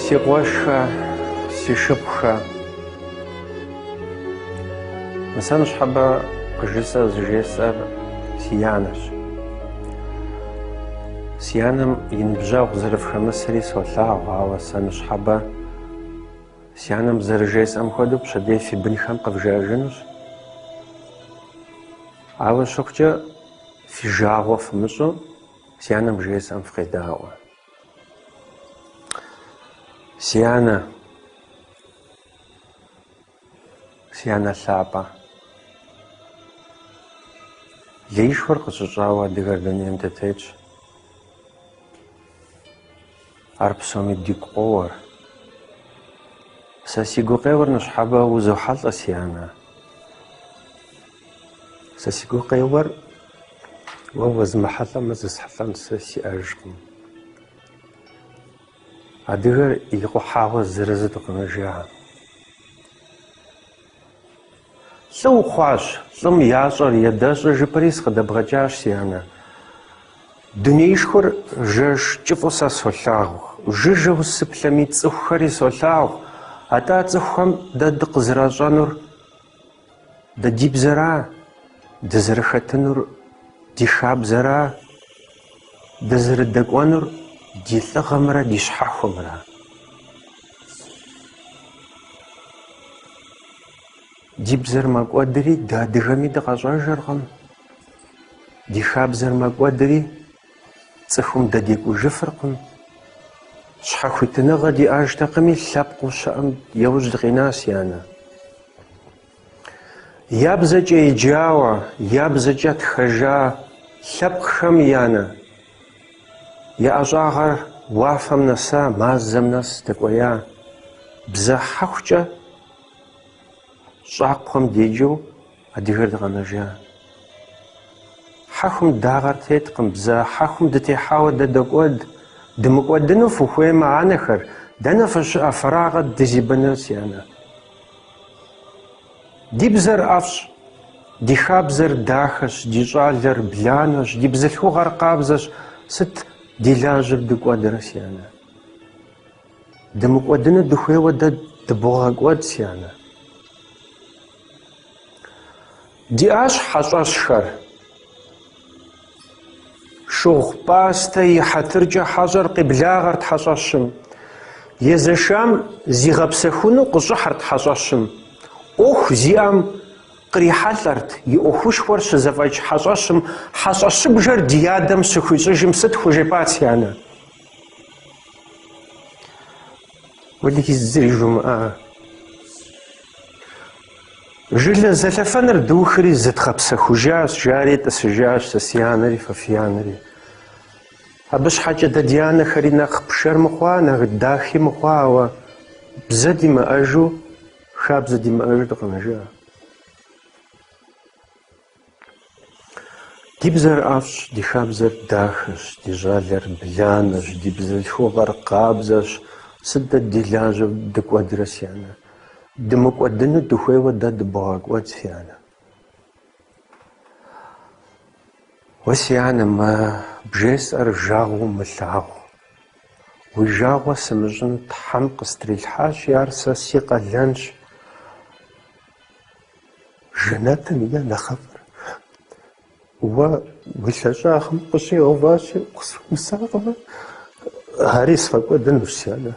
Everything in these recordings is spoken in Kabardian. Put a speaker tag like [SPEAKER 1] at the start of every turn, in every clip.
[SPEAKER 1] Си къуэшхэ, си шыпхъухэ. Мы сэ ныщхьэбэ къыжысӏэу зыжесӏэр си анэрщ. Си анэм и ныбжьэгъу зэрыфхэмысри солъагъу, ауэ сэ ныщхьэбэ, Си анэм зэрыжесӏэм хуэдэу пщэдей фи бынхэм къывжаӏэжынущ. Ауэ щыхъукӏэ, фи жагъуэ фымыщӏу, си анэм жесӏэм фыкъедаӏуэ. Си анэ, си анэ лъапӏэ, леишхуэр къытщыщӏауэ адыгэр дунейм дытетщ. Ар псоми дигу къоуэр. Сэ си гукъеуэр ныщхьэбэ узохьэлӏэ, си анэ. Сэ си гукъеуэр уэ уэзмыхьэлӏэмэ зысхьэлӏэн сэ сиӏэжкъым. Адыгэр и къухьагъуэ зырызурэ къэмынэжа. Лӏы ухъуащ, лӏым ящӏэр ядэщӏэ жыпӏэри сыкъыдэбгъэкӏащ, си анэ. Дунеишхуэр жэш кӏыфӏу сэ солъагъу. Жыжьэу сыплъэми цӏыхухэри солъагъу, атӏэ цӏыхухэм дэ дыкъызэращӏэнур дэ ди бзэра, дызэрыхэтынур ди хабзэра, дызэрыдэкӏуэнур ди лӏыгъэмрэ ди щхьэхуэмрэ. Ди бзэр мэкӏуэдри дэ адыгэм дыкъищӏэжыркъым. Ди хабзэр мэкӏуэдри цӏыхум дэ декӏужыфыркъым. Щхьэхуитыныгъэ диӏэжтэкъыми, лъэпкъыу щыӏэм яужь дыкъина, си анэ. Я бзэкӏэ еджауэ, я бзэкӏэ тхэжа лъэпкъхэм анэ, я ӏэщӏагъэр уафэм нэса, мазэм нэс дэкӏуея бзэ хьэхукӏэ щӏакхъуэм деджэу адыгэр дыкъэнэжа. Хьэхум дагъэр теткъым, бзэ хьэхум дытехьауэ дэ докӏуэд. Дымыкӏуэдыну фыхуеймэ, анэхэр, дэнэ фыщыӏэ, фэрагъэ дызибэныр, си анэ. Ди бзэр ӏэфӏщ, ди хабзэр дахэщ, ди щӏалэр бланэщ, ди бзылъхугъэр къабзэщ, сыт ди лажьэр дыкӏуэдрэ, си анэ? Дымыкӏуэдыну дыхуейуэ дэ дыбогъэкӏуэд, си анэ. Диӏащ хьэщӏэщхэр. Шыгъупӏастэ и хьэтыркӏэ хьэщӏэр къеблагъэрт хьэщӏэщым. Езэшам зигъэпсэхуну къыщӏыхьырт хьэщӏэщым. ӏуэху зиӏэм кърихьэлӏэрти, ӏуэхушхуэр щызэфӏэкӏ хьэщӏэщым хьэщӏэщыбжэр ди адэм щыхуищӏыжым сыт хужепӏат си анэ? Уэлэхьи, зыри жумыӏа! Жылэ зелъэфэныр духри зыдгъэпсэхужащ, жари тӏысыжащ сэ си анэри фэ фи анэри. Абы щхьэкӏэ дэ ди анэхэри нэхъ пшэр мыхъуа, нэхъ дахи мыхъуа, ауэ бзэ димыӏэжу, хабзэ димыӏэжу дыкъэнэжа. Ди бзэр ӏэфӏщ, ди хабзэр дахэщ, ди щӏалэр бланэщ, ди бзылъхугъэр къабзэщ. Сыт дэ ди лажьэу дыкӏуэдрэ, си анэ? Дымыкӏуэдыну дыхуейуэ дэ дыбогъэкӏуэд, си анэ. Уэ, си анэ, мы бжесӏэр жагъуэу мылъагъу. Уи жагъуэ сымыщӏын Тхьэм къыстрилъхьащи, ар сэ си къалэнщ. Жэнэтым и нэхъыфӏыр уэ уи лъэщӏагъым къыщӏигъэуващи, сыхуэмысакъмэ, ари сфӏэкӏуэдынущ, си анэ.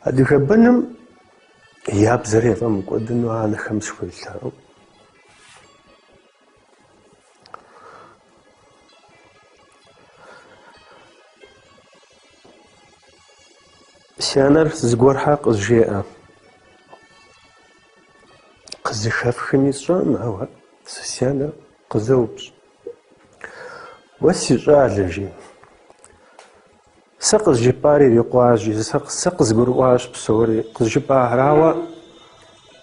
[SPEAKER 1] Адыгэ быным я бзэр яфӏэмыкӏуэдыну анэхэм схуелъэӏу. Си анэр зыгуэрхэ къызжеӏэ. Къызыхэфхыми сщӏэкъым, ауэ си анэр къызэупщӏ. Уэ си щӏалэ, жи. Сэ къызжыпӏар ирикъуа, жи, сэ къызгурыӏуащ псори къызжыпӏахэр, ауэ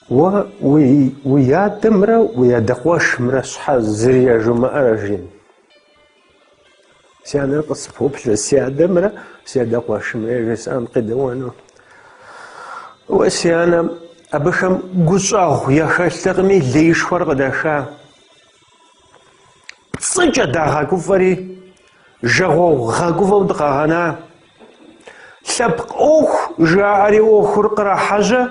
[SPEAKER 1] уэ уи адэмрэ уи адэ къуэшымрэ щхьэ зыри яжумыӏэрэ, жи? Си анэр къыспоплъэ си адэмрэ си адэ къуэшымрэ яжесӏэм къедэӏуэну. Уэ, си анэ, абыхэм гущӏэгъу яхэлътэкъыми, леишхуэр къыдаха. Пцӏыкӏэ дагъэгуфӏэри, жагъуэгъу гъэгуфӏэу дыкъагъэна. Лъэпкъ ӏуэху жаӏэри ӏуэхур кърахьэжьэ.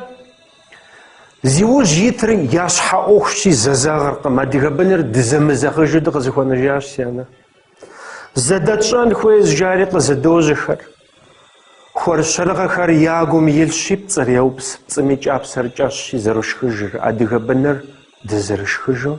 [SPEAKER 1] Зи ужь итыр я щхьэ ӏуэхущи зэзэгъыркъым, адыгэ быныр дызэмызэгъыжу дыкъызыхуэнэжащ, си анэ. Зэдэтщӏэн хуейщ жари къызэдожьэхэр. Хъуэршэрыгъэхэр я гум илъщи, пцӏыр яупс, пцӏым и кӏапсэр кӏэщӏщи зэрошхыжыр, адыгэ быныр дызэрышхыжу.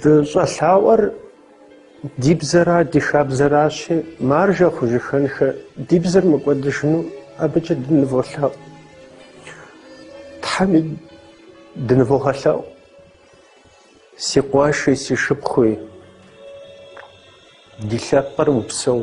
[SPEAKER 1] Дыщӏэлъаӏуэр ди бзэра, ди хабзэращи, маржэ хъужыхэнхэ, ди бзэр мыкӏуэдыжыну абыкӏэ дыныволъэӏу. Тхьэми дынывогъэлъэӏу, си къуэши, си шыпхъуи, ди лъэпкъыр упсэу.